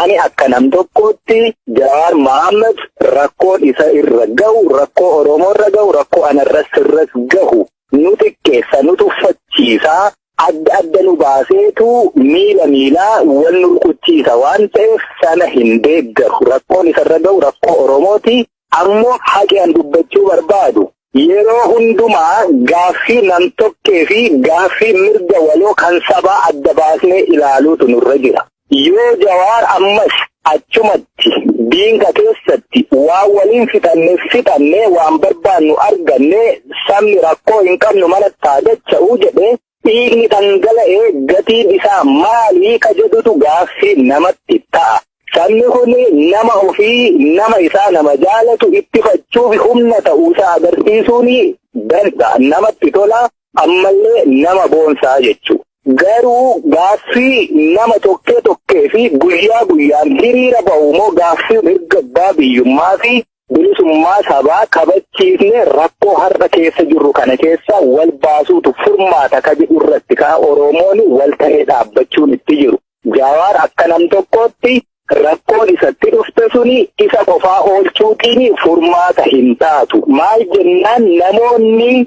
Ani akka nam tokkootti Jawaar Mohaammed rakkoon isa irra gahu, rakkoo Oromoo irra gahu, rakkoo anarras sirras gahu nu xiqqeessa, nu tuffachiisa, adda adda nu baaseetu miila miilaa wal nu rukuchiisa waan ta'eef sana hin deeggaru. Rakkoon isarra gahu rakkoo Oromooti. Ammo haqi an dubbachu barbaadu, yeroo hundumaa gaaffii nam-tokkee fi gaaffii mirga waloo kan sabaa adda baasnee ilaaluutu nurra jira. Yoo Jawaar ammas achumatti, diinqa keessatti, waan waliin fixanne fixannee, waan barbaannu argannee, sabni rakkoo hin qabnu manatti haa dacha'u jedhee, Dhiigni dhangala'e gatiin isaa maali ka jedhutu gaaffii namatti ta'a. Sabni kun nama ofii, nama isaa nama jaalatu ittifachuuf humna ta'uusaa agarsiisuun dansa, namatti tola, ammallee nama boonsaa jechuudha. Garuu gaaffii nama tokkee tokkee fi guyyaa guyyaan hiriira bahu moo gaaffii mirga abbaa biyyummaa fi Bilisummaa sabaa kabachiifne rakkoo har'a keessa jirru kana keessa wal baasuutu furmaata ka jedhu irratti ka Oromoon wal ta'ee dhaabbachuun itti jiru. Jawaar akka nam tokkootti rakkoon isatti dhufte suni isa qofaa oolchuutiin furmaata hin taatu. Maal jennaan namoonni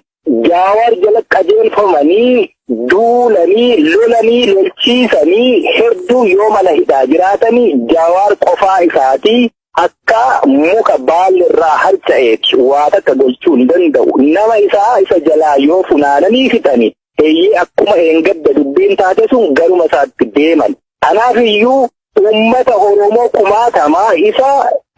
Jawaar jala qajeelfamanii duulanii lolanii lolchiisanii hedduu yoo mana hidhaa jiraatanii Jawaar qofaa isaatii Akka muka baalli irraa harca'eeti waa takka gochuu hin danda'u. Nama isaa isa jalaa yoo funaananii fixani eeyyee akkuma eengadda dubbiin taate sun garuma isaatti deeman. Kanaaf iyyuu uummata Oromoo kumaatamaa isa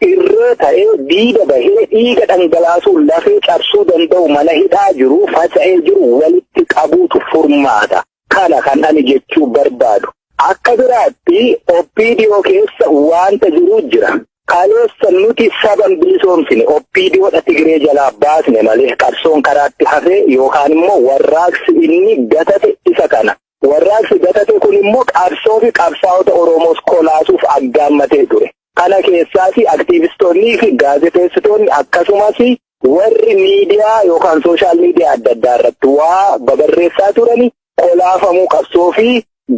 irree ta'ee diida bahee dhiiga dhangalaasuun lafee cabsuu danda'u mana hidhaa jiru faca'ee jiru walitti qabuutu furmaata. Kana kan ani jechuu barbaadu. Akka biraatti OPDO keessa waanta jiru jira. Kaleessa nuti saba hin bilisoomsine OPDO dha Tigiree jalaa baasne malee qabsoon karaatti hafe yookaan immoo warraaqsi inni gatate isa kana. Warraaqsi gatate kun immoo qabsoo fi qabsaa'ota Oromoos kolaasuuf aggaammatee ture. Kana keessaas aktiivistoonnii fi gaazexeessitoonni akkasumas Warri miidiyaa yookaan sooshaal miidiyaa adda addaa irratti waa babarreessaa turani kolaafamuu qabsoo fi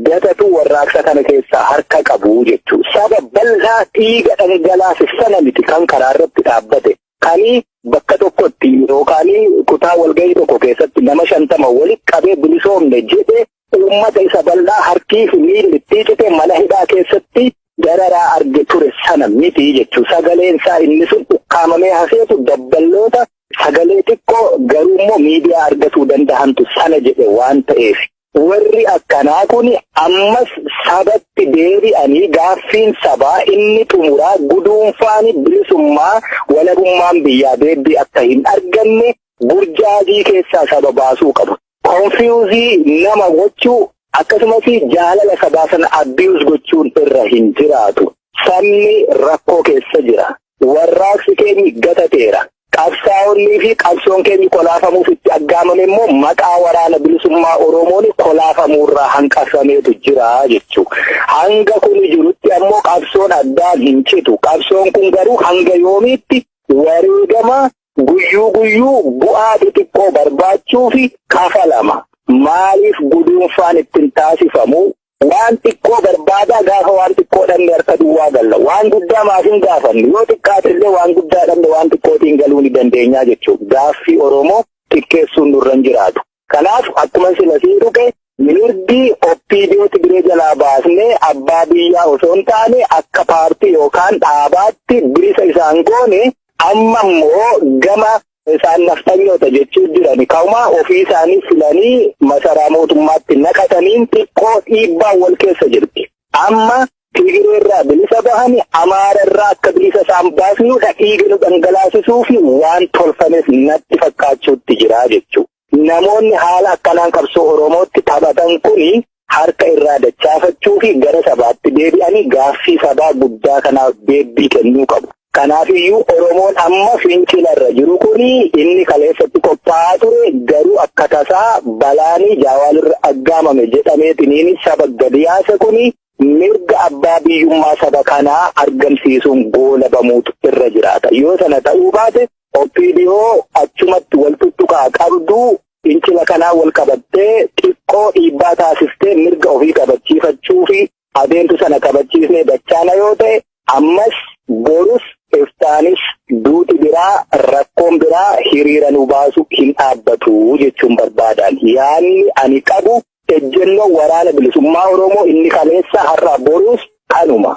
gatatu warraaqsa kana keessaa harka qabu jechuudha. Saba bal'aa dhiiga dhangalaase sana miti kan karaa irratti dhaabbate. Kani bakka tokkotti yookaan kutaa walgahii tokko keessatti nama shantama walitti qabee bilisoomne jedhe uummata isa bal'aa harkii fi miilli itti cite mana hidhaa keessatti dararaa arge ture sana miti jechuu sagaleen isaa inni sun ukkaamamee hafeetu dabballoota sagalee xiqqoo garuu immoo miidiyaa argatuu danda'antu sana jedhe waan ta'eef warri akkanaa kun ammas sabatti deebi'anii gaaffiin sabaa inni xumuraa guduunfaani bilisummaa walabummaan biyyaa deebii akka hin arganne burjaajii keessaa saba baasuu qabu. konfiyuuzii nama gochuu akkasumas jaalala sabaa sana abiyuus gochuun irra hin jiraatu. Sabni rakkoo keessa jira. Warraaqsi keenyi gatateera. Qabsaa'onnii fi qabsoon keenyi kolaafamuuf itti aggaamame immoo maqaa waraana bilisummaa Oromoon kolaafamuurraa hanqafameetu jira jechuu. Hanga kun jirutti ammoo qabsoon addaan hin citu. Qabsoon kun garuu hanga yoomiitti wareegama Guyyuu guyyuu bu'aa xixiqqoo barbaachuufi kafalama. Maaliif guduunfaan ittin taasifamu? Waan xiqqoo barbaadaa gaafa waan xiqqoo dhabne harka duwwaa galla. Waan guddaa maaf hin gaafannu? Yoo xiqqaate illee waan guddaa dhabne waan xiqqootiin galuu ni dandeenyaa jechuudha. Gaaffii Oromoo xiqqeessuun nurra hin jiraatu. Kanaaf akkuma sila siin tuqe mirgi OPDO Tigiree jalaa baasnee abbaa biyyaa osoo hin taane akka paartii yookaan dhaabaatti bilisa isaan goone amma immoo gama isaan nafxanyoota jechuu jiran kauma ofii isaanii filanii masaraa mootummaatti naqataniin xiqqoo dhiibbaan wal keessa jirti. Amma Tigiree irraa bilisa bahani Amaara irraa akka bilisa isaan baasnuudha dhiiga nu dhangalaasisuu fi waan tolfames natti fakkaachuutti jira jechuu. Namoonni haala akkanaan qabsoo Oromootti taphatan kuni harka irraa dachaafachuu fi gara sabaatti deebi'anii gaaffii sabaa guddaa kanaaf deebbii kennuu qabu. Kanaafiyyuu Oromoon amma fincila irra jiru kuni inni kaleessatti qophaa'aa ture garuu akka tasaa balaanii jaawaalirra aggaamame jedhameetiniin saba gadi yaase kuni mirga abbaa biyyummaa saba kanaa argamsiisuun goolabamuutu irra jiraata. Yoo sana ta'uu baate OPDO achumatti wal tuttuqaa qabdu fincila kanaa wal qabattee xiqqoo dhiibbaa taasiftee mirga ofii kabachiifachuu fi adeemtu sana kabachiisnee dachaana yoo ta'e Ammas, borus, iftaanis, duuti biraa, rakkoon biraa hiriira nu baasu hin dhaabbatu jechuun barbaadaan. Yaadni ani qabu ejjennoo Waraana Bilisummaa Oromoo inni kaleessa har'aa boruus kanuma.